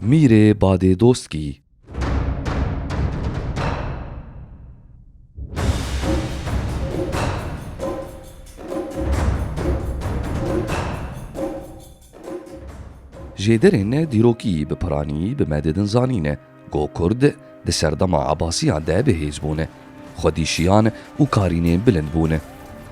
Mîrê Badê Doskî Jêderên dîrokî bi piranî bi me didin zanîn e. Ku Kurd di serdema Ebasiyan de bihêz bûn, xwedî şiyan û karînên bilind bûn.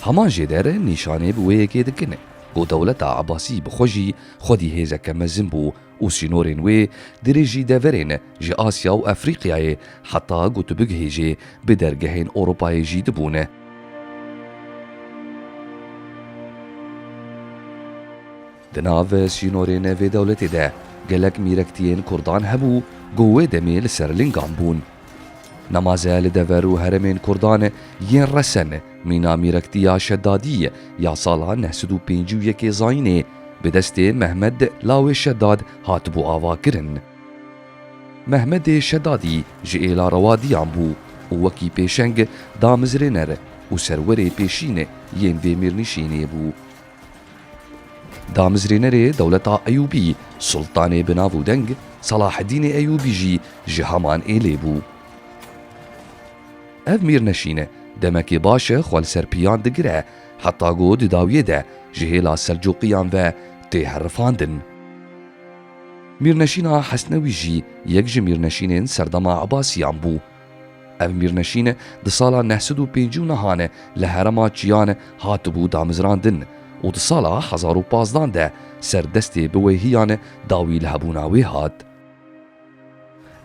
Heman jê der nîşanê bi wê yekê dikin ku dewleta Ebasî bi xwe jî xwedî hêzeke mezin bû û sînorên wê dirêjî deverên ji Asya û Efrîqyayê heta ku tu bigihêjê bi dergehên Ewropayê jî dibûn. Di nav sînorên vê dewletê de gelek mîrektiyên kurdan hebû ku wê demê li ser lingan bûn. Nemaze li dever û heremên kurdan yên resen mîna mîrektiya Şedadî ya sala neh sed û pêncî û yekê zayînê bi destê Mehmed lawê Şedad hatibû avakirin. Mehmedê Şedadî ji êla rewadiyan bû û wekî pêşeng damizrêner û serwerê pêşîn yên vê mîrnişînê bû. Damezrênerê dewleta Eyûbî, Sultanê bi nav û deng Salaheddînê Eyûbî jî ji heman êlê bû. Ev mîrneşîn e, demekê baş e xwe li ser piyan digire, heta ku di dawiyê de ji hêla Selcuqiyan ve tê herifandin. Mîrneşîna Hesnewî jî yek ji mîrneşînên serdema Ebasiyan bû. Ev mîrnişîn di sala neh sed û pêncî û nihan li herema Çiyan hatibû damizrandin û di sala hezar û pazdan de ser destê biwêhiyan dawî li hebûna wê hat.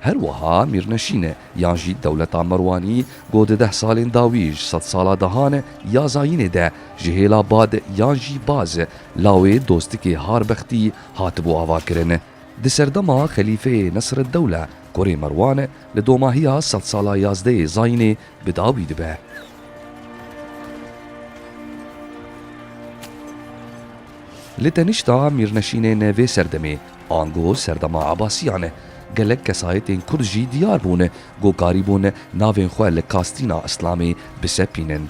Her wiha mîrnişîn yan jî dewleta Merwanî ku di deh salên dawî ji sed sala dahan ya zayînê de ji hêla bad yan jî baz lawê dostikê harbextî hatibû avakirin. Di serdema xelîfeyê Nesireddewle Kurê Merwane li domahiya sedsala yazdeyê Zayînê bi dawî dibe. Li tenişta mîrneşînên vê serdemê, ango serdema Ebasiyan e, gelek kesayetên Kurd jî diyar bûn ku karîbûn navên xwe li kastîna Îslamê bisepînin.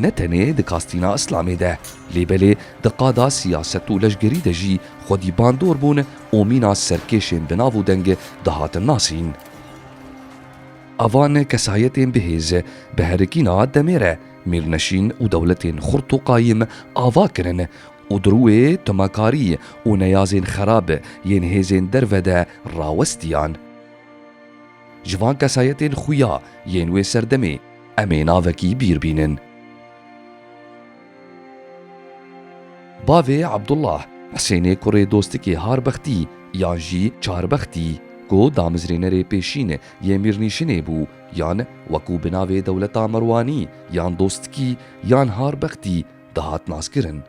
ne tenê di kastîna îslamê de lê belê di qada siyaset û leşgerî de jî xwedî bandor bûn û mîna serkêşên bi nav û deng dihatin nasîn. A van kesayetên bihêz bi herikîna demê re Mîrneşîn û dewletên xurt û qayîm ava kirin û di rûê timakarî û neyazên xerab yên hêzên derve de rawestiyan. Ji van kesayetên xuya yên wê serdemê em ê navekî bîr bînin. Bavê Abdullah, Hisênê kurê Dostikê Harbextî yan jî Çarbextî ku damizrênerê pêşîn yê Mîrnîşinê bû yan wekû bi navê Dewleta Merwanî yan Dostikî yan Harbextî dihat naskirin.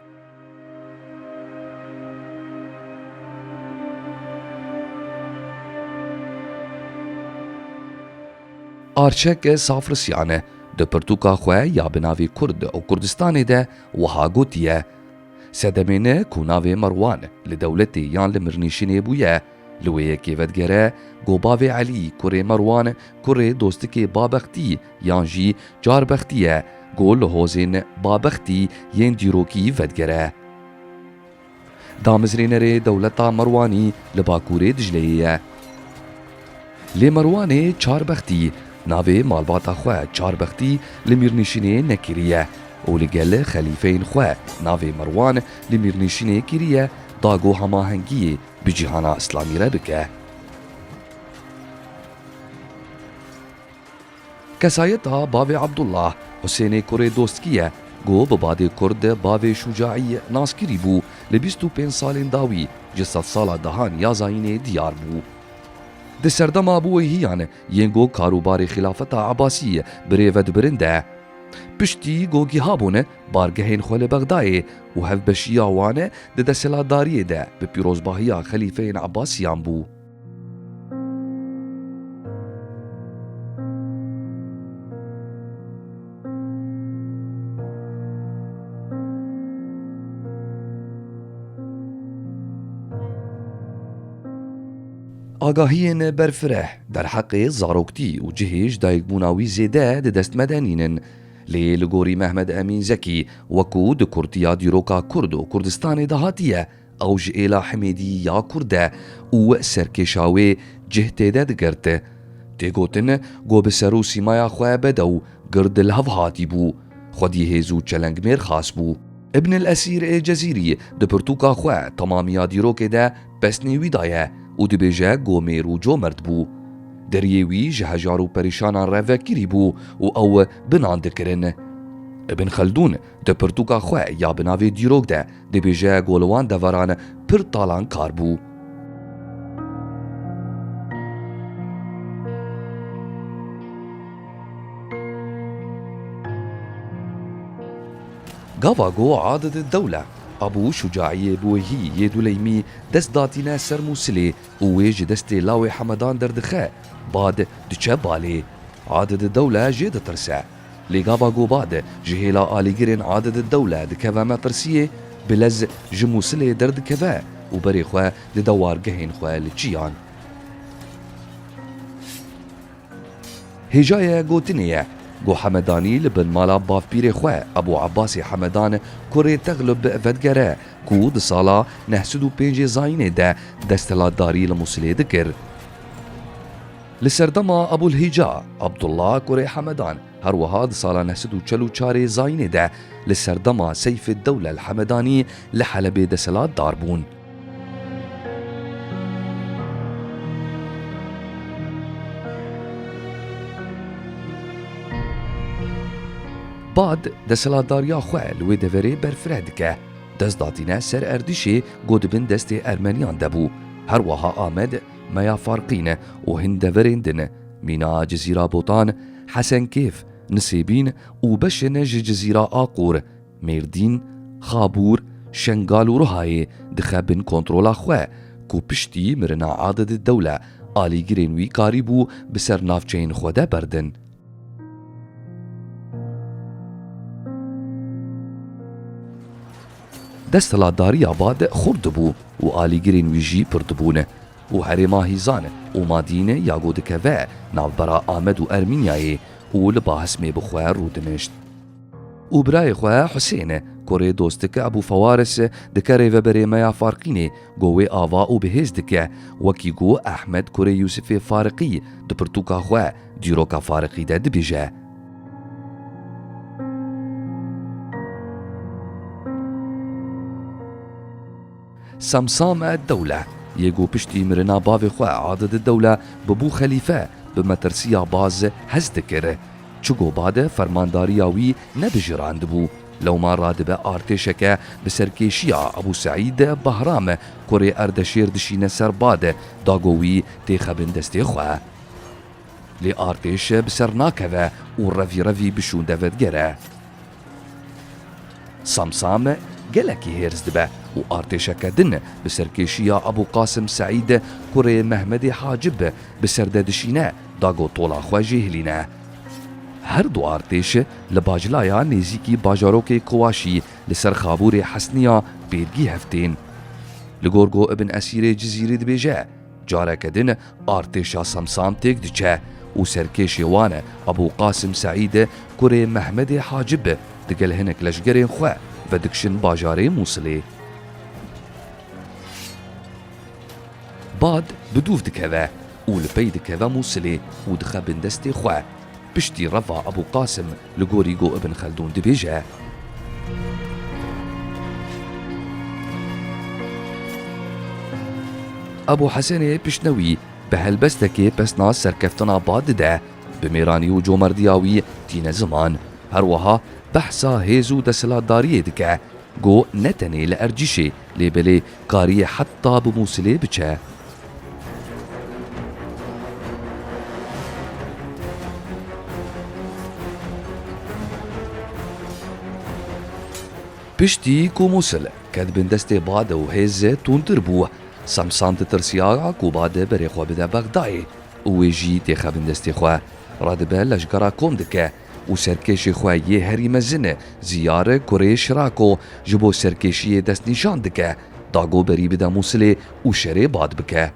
Arçeke Safrisyan e di pirtûka xwe ya bi navê Kurd û Kurdistanê de wiha gotiye, Sedemê ne ku navê Merwan li dewletê yan li mirnîşînê bûye, li wê yekê vedigere ku bavê Elî kurê Merwan kurê dostikê Babextî, Yan jî carbextî ye ku li hozên babextî yên dîrokî vedigere. Damezrênerê dewleta Merwanî li bakûrê Dicleyê ye. Lê Merwanê Çarbextî navê malbata xwe Çarbextî li Mîrnişînê nekiriye û li gel xelîfeyên xwe navê Merwan li Mîrnişînê kiriye da ku hemahengiyê bi cîhana Îslamî re bike. Kesayeta bavê Abdullah, Husênê kurê Dostkî ye ku bi badê kurd de bavê Şûcaî nas kirî bû, li bîst û pênc salên dawî ji sedsala dehan ya zayînê diyar bû. Di serdema biwêhiyan yên ku karûbarê Xîlafeta Ebasî bi rê ve dibirin de, piştî ku giha bûn bargehên xwe li Bexdayê û hevbeşiya wan di desthilatdariyê de bi pîrozbahiya xelîfeyên Ebasîyan bû, Agahiyên berfireh derheqê zaroktî û cihê ji dayikbûna wî zêde di dest me de nînin. Lê li gorî Mehmed Emîn Zekî wekû di kurtiya dîroka Kurd û Kurdistanê de hatiye, Ew ji êla Himêdî ya kurd e û we serkêşa wê cih têde digirti. Tê gotin ku bi ser û sîmaya xwe bedew gird li hev hatî bû. Xwedî hêz û çelengmêr xas bû. Ibn El Esîr ê Cezîrî di pirtûka xwe Temamiya Dîrokê de pesnê wî daye û dibêje ku mêr û comert bû. Deriyê wî ji hejar û perişanan re vekirî bû û ew binan dikirin. Ibn Xeldûn Di pirtûka xwe ya bi navê Dîrok de dibêje ku li wan deveran pir talan kar bû. Gava ku Adid Dewle Abû Şucaîyê bi wehî yê Duleymî dest datîne ser Mûsilê û wê ji destê lawê Hemedan derdixe, bad diçe balê. Adid Dewle jê ditirse. Li gava Goba de ji hêla alîgirên Adededdewle dikeve mepirsiyê, Bilez ji Mûsilê derdikeve û berê xwe di dewargehên xwe li çiyan. Hêjayê gotinê ye ku Hemedanî li bin mala bavpîrê xwe Ebû Ebasî Hemedan kurê Teglib vedigere ku di sala neh sed û pêncê zayînê de desthilatdarî li Mûsilê dikir. Li serdema Ebûlhîca Abdullah kurê Hemedan her wiha di sala neh sed û çel û çar ê Zayînê de li serdema Seyfîddewle El Hemedanî li Helebê deselatdar bûn. Bad deselatdariya xwe li wê deverê berfireh dike. Dest datîne ser erdişê ku di bin destê Ermeniyan de bû. Her wiha Amed Meya Farqîn e û hin deverên din e, mîna Cizîra Botan, Hesenkêf, Nisêbîn û beşên ji Cizîra Aqûr, Mêrdîn, Xabûr, Şengal û Rihayê dixe bin kontrola xwe ku piştî mirina Adedî Dewle alîgirên wî karîbû bi ser navçeyên xwe de berdin. Desthilatdariya bad xurt dibû û alîgirên wî jî pir dibûn û herêma hîzan û madîn ya ku dikeve navbera Amed û Ermînyayê û li Bahismê bi xwe rû dinişt. Û birayê xwe Husên, kurê dostik Ebû Fewaris dike rêveberê me ya Farqînê ku wê ava û bi hêz dike, wekî ku Ehmed kurê Yûsifê Fariqî di pirtûka xwe, Dîroka fariqî de dibêje. Semsame Dewle yê ku piştî mirina bavê xwe Adid Dewle bibû xelîfe bi metirsiya baz hez dikir. Çi ku bad e fermandariya wî nebijirandibû. Lewma radibe artêşeke bi serkêşiya Ebû Seîd Bahram kurê Erdeşêr dişîne ser bad da ku wî têxebin destê xwe. Lê artêş bi ser nakeve û revî revî bi şûnde ve digere. Samsam gelekî hêrs dibe û artêşeke din bi serkêşiya Ebû Qasim Seîd kurê Mehmedê Hacib bi ser de dişîne dago tola xwe jê hilîne. Her du artêş li Baclaya nêzîkî bajarokê Kuwaşî li ser xabûrê Hesniya pêrgî hev tên. Li gor ku Ibn Esîrê Cizîrî dibêje, Careke din artêşa Samsam têk diçe û serkêşê wan e Ebû Qasim Seîd kurê Mehmedê Hacib digel hinek leşgerên xwe vedikşin bajarê Mûsilê. Bad bi dûv dikeve û li pey dikeve Mûsilê û dixebin destê xwe. Piştî reva Ebû Qasim li gorî got Ibn Xeldûn dibêje. Ebû Hesenê piştnewî bi helbestekê pesna serkeftina bad dide, bi mêranî û comerdiya wî tîne ziman. Her wiha behsa hêz û desthilatdariyê dike. Go ne tenê li Ercîşê lê belê kariye heta bi Mûsilê biçe. Piştî ku Mûsil ket bin destê bade û hêze tûntir bû, Samsan ditirsiyaya ku bade berê xwe bide Bexdayê û wê jî têxe bin destê xwe, re dibe leşgera kom dike. û serkêşê xwe yê herî mezin e Ziyar kurê Şirako ji bo serkêşiyê destnîşan dike, Dago berî bide Mûsilê û şerê bad bike.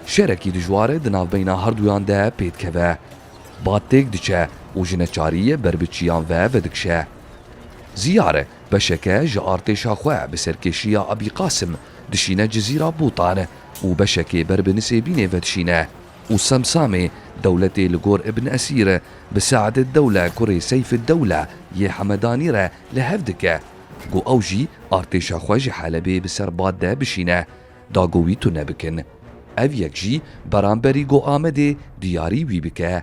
Şerekî dijwar di navbeyna herduyan de pêdikeve. Bad têk diçe û ji neçariyê ber bi çiyan ve vedikşe. Ziyar beşeke ji artêşa xwe bi serkêşiya Abî Qasim dişîne Cizîra Bûtan û beşekê ber bi Nisêbînê vedişîne. Û Semsamê dewletê li gor Ibn Esîr e, bi Se'd-ed-Dewle kurê Seyf-ed-Dewle yê Hemedanî re li hev dike. Go ew jî artêşa xwe ji Helebê bi ser bad de bişîne, dago wî tune bikin. Ev yek jî beramberî go Amedê diyarî wî bike.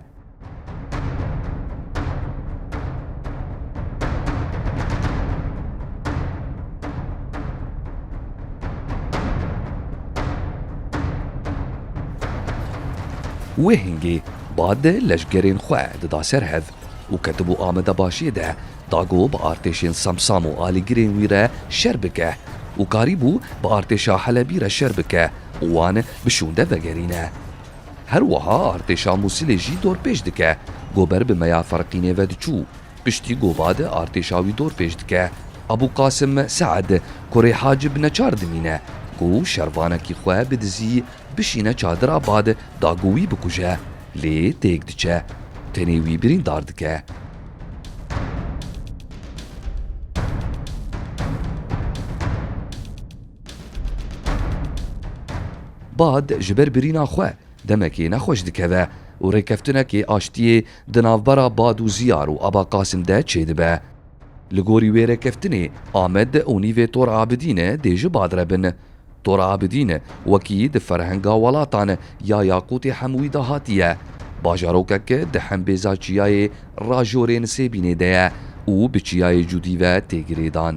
Wê hingê bad leşgerên xwe dida ser hev û ketibû Ameda Başiyê de dago bi artêşên Samsam û alîgirên wî re şer bike û karîbû bi artêşa Helebî re şer bike û wan bi şûnde vegerîne. Her wiha artêşa Mûsilê jî dorpêç dike. Gober bi meya Ferqînê ve diçû. Piştî Goba de artêşa wî dorpêç dike. Ebû Qasim Se'ed kurê Hacib neçar dimîne ku şervanekî xwe bidizî bişîne çadira bad da ku wî bikuje. Lê têk diçe. Tenê wî birîndar dike. Bad ji ber birîna xwe demekê nexweş dikeve û rêkeftinekê aştiyê di navbera Bad û Ziyar û Aba Qasim de çêdibe. Li gorî wê rêkeftinê Amed û nîvê Tor Abidîn dê ji Bad re bin. Tor Abidîn wekî di ferhenga welatan ya yaqûtê hemûyî de hatiye. Bajarokek di hembêza çiyayê Rajorên Sêbînê de ye û bi çiyayê Cûdî ve tê girêdan.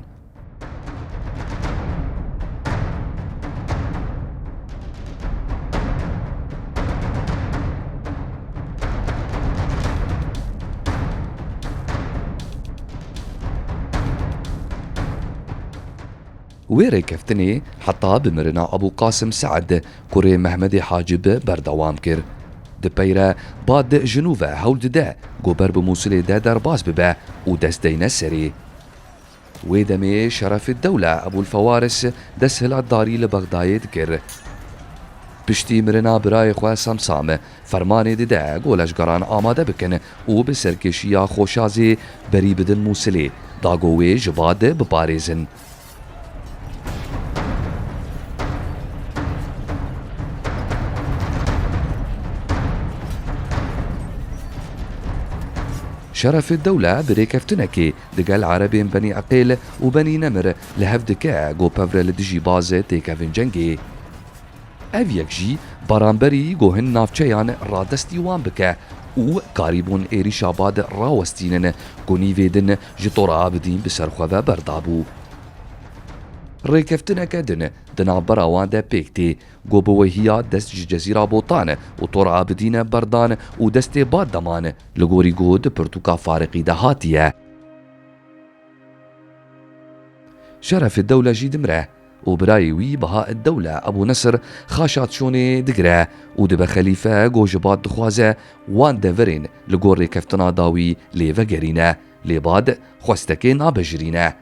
Wê rêkeftinê heta bi mirina Ebû Qasim Se'd kurê Mehmedê Hacib berdewam kir. Di pey re Bad ji nû ve hewl dide ku ber bi Mûsilê de derbas bibe û dest deyne serê. Wê demê Şerefîddewle Ebûlfewaris desthilatdarî li Bexdayê dikir. Piştî mirina birayê xwe Samsam, fermanê dide ku leşgeran amade bikin û bi serkêşiya Xoşazê berî bidin Mûsilê, da ku wê ji bad biparêzin. Şerefîddewle bi rêkeftinekê Digel Erebên Benî Eqêl û Benî Nemir li hev dike gopevre li dijî Bazê têkevin cengê. Ev yek jî baranberî gohin navçeyan radestî wan bike û karîbûn êrîşa bad rawestînin ku nîvê din ji Tora Abidîn bi ser xwe ve berdabû. Rêkeftineke din di navbera wan de pêk tê Go bi wehiya dest ji Cezîra Botan û Tor Abidîn berdan û destê bad deman li gorî go di pirtûka Fariqî de hatiye. Şerefeddewle jî dimire û birayê wî Bahaeddewle Ebû Nesir xaşa Çonê digire û dibe xelîfe go ji bad dixwaze wan deverên li gor rêkeftina dawî lê vegerîne lê bad xwestekê nabejirîne.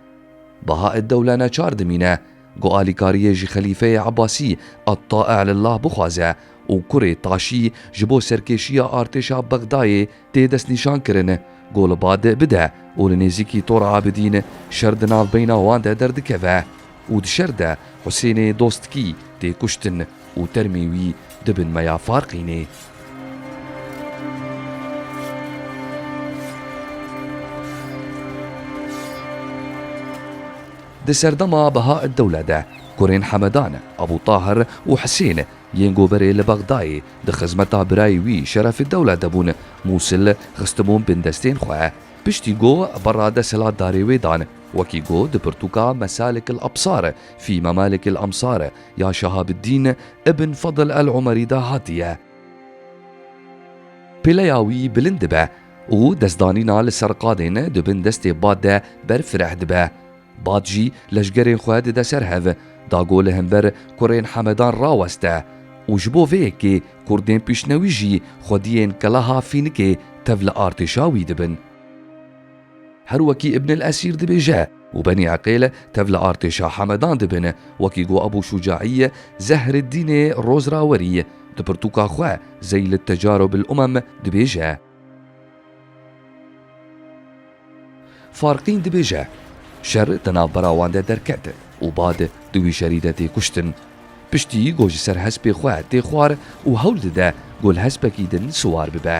Bahaeddewle neçar dimîne Ku alîkariyê ji Xelîfeyê Ebasî Ettae'lillah bixwaze û kurê taşî ji bo serkêşiya artêşa Bexdayê tê destnîşankirin, ku li ba di bide û li nêzîkî Tora Abidîn şer di navbeyna wan de derdikeve û di şer de Husênê Dostkî tê kuştin û termê wî di bin me ya Farqînê. Di serdema Behaeddewle de kurên Hemedan, Ebû Tahir û Hisên yên Goberê li Bexdayê di xizmeta birayê wî Şerefiddewle de bûn, Mûsil xistibûn bindestên xwe. Piştî go berra desthilatdarê wê dan. Wekî go di pirtûka Mesalikil Absar fî Memalikil Amsar ya Şehabiddîn Ibn Fedl El Umerî de hatiye. Pêleya wî bilind dibe, û destdanîna li ser qadên di bin destê bad de ber fireh dibe. Bad jî leşgerên xwe dide ser hev, dago li hember kurên Hemedan raweste û ji bo vê yekê kurdên piştnewî jî xwediyên keleha Fînikê tev li artêşa wî dibin. Her wekî Ibnil Esîr dibêje. û Benî Eqêle tev li artêşa Hemedan dibêne, wekî ku Ebû Şûcaî yê Zehreddînê Rozrawerî di pirtûka xwe Zeîl Tecaru bil Umem dibêje. Farqîn dibêje, Şer di navbera wan de derket û bad di wî şerî de tê kuştin. Piştî ku ji ser hespê xwe tê xwar û hewl dide ku li hespekî din siwar bibe.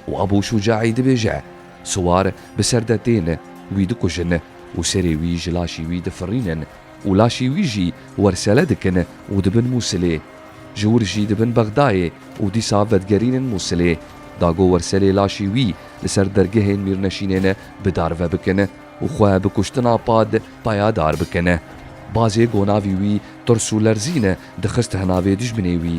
Û Ebû Şûcaî dibêje, Siwar bi ser de tên, wî dikujin û serê wî ji laşî wî difirînin û laşî wî jî wersele dikin û dibin Mûsilê. Ji wir jî dibin Bexdayê û dîsa vedigerînin Mûsilê, dago werselê laşî wî li ser dergehên mîrneşînên bi dar ve bikin û xwe bi kuştina Pad payadar bikin. Bazê gonavî wî tirs û lerzîn dixist hinavê dijminê wî.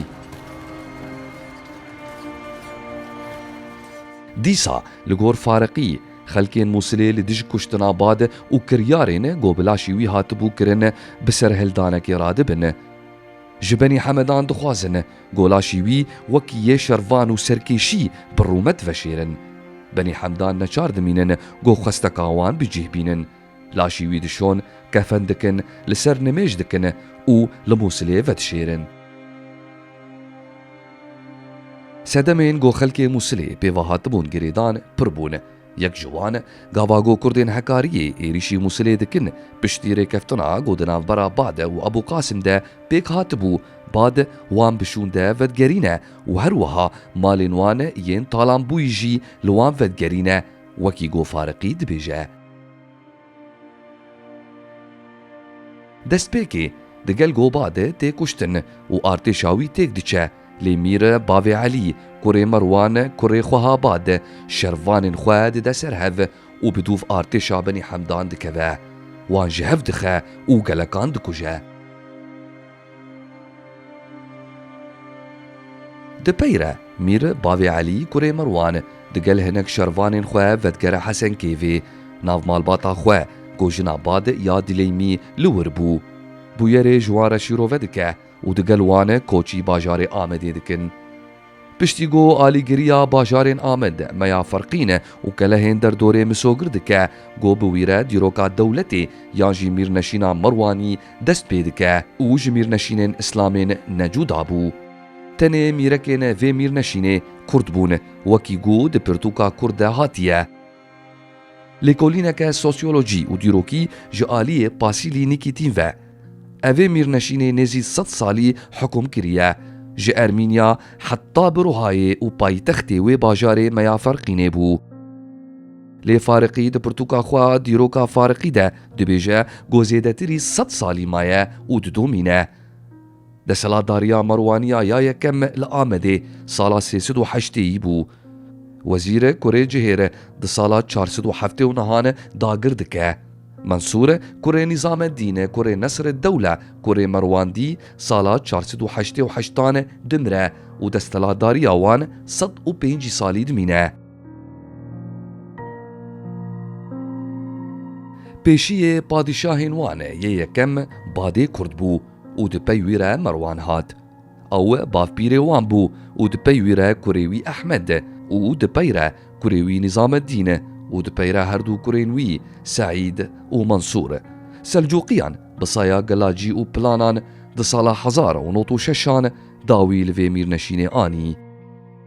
Dîsa li gor Fariqî, xelkên Mûsilê li dijî kuştina Bad û kiryarên ku bi laşê wî hatibû kirin bi serhildanekê radibin. Ji Benî Hemedan dixwazin ku laşê wî wek yê şervan û serkêşî bi rûmet veşêrin. Benî Hemdan neçar dimînin ku xwesteka wan bicih bînin. Laşî wî dişon, kefen dikin, li ser nimêj dikin û li Mûsilê vedişêrin. Sedemên ku xelkê Mûsilê pê ve hatibûn girêdan pir bûn. Yek ji wan, gava ku kurdên hekariyê êrîşî Mûsilê dikin, piştî rêkeftina ku di navbera Bade û Ebû Qasim de pêk hatibû, Bad wan bi şûnde vedigerîne û her wiha malên wan yên talanbûyî jî li wan vedigerîne, wekî ku Fariqî dibêje. Destpêkê di gel Goba de tê kuştin û artêşa wî têk diçe lê Mîr Bavê Elî, kurê Merwan, kurê Xwehabad, şervanên xwe dide ser hev û bi dûv artêşa Benî Hemdan dikeve. Wan ji hev dixe û gelekan dikuje. Di peyre, Mîr bavê Elî kurê Merwan di gel hinek şervanên xwe vedigere Hesenkeyvê. Nav malbata xwe ku jina Bad ya Dileymî li wir bû, bûyerê ji wan re şîrove dike û di gel wan koçî bajarê Amedê dikin. Piştî ku alîgiriya bajarên Amed, Meya Ferqîn û kelehên derdorê misogir dike ku bi wî re dîroka dewletê yan jî mîrneşîna Merwanî dest pê dike û ji mîrneşînên îslamên ne cuda bû. Tenê mîrekên vê mîrneşînê Kurd bûn, wekî ku di pirtûka Kurd de hatiye. Lêkolîneke sosyolojî û dîrokî ji aliyê Pasîlî Nîkîtîn ve. Evê mîrneşînê nêzî sed salî hikum kiriye. Ji Ermînya heta Birûhayê û paytextê wê bajarê Meyaferqînê bû. Lê Fariqî di pirtûka xwe Dîroka Fariqî de dibêje ku zêdetirî sed salî maye û didomîne. Desthilatdariya Marwaniya ya yekem li Amedê sala sê sed û heştê yî bû. Wezîr e kurê cihêre di sala çar sed û heftê û nihan e dagir dike. Mensûr e kurê Nîzamedîn e kurê Nesreddewle kurê Merwandî sala çar sed û heştê û heştan e dimire û desthilatdariya wan sed û pêncî salî dimîne. Pêşiyê padîşahên wan e yê yekem Badê Kurd bû. û di pey wî re Merwan hat. Ew bavpîrê wan bû û di pey wî re kurê wî Ehmed û di pey re kurê wî Nîzameddîn û di pey re herdû kurên wî Seîd û Mensûr. Selcûqiyan bi saya gelacî û planan di sala hezar û nod û şeşan dawî li vê mîrneşînê anî.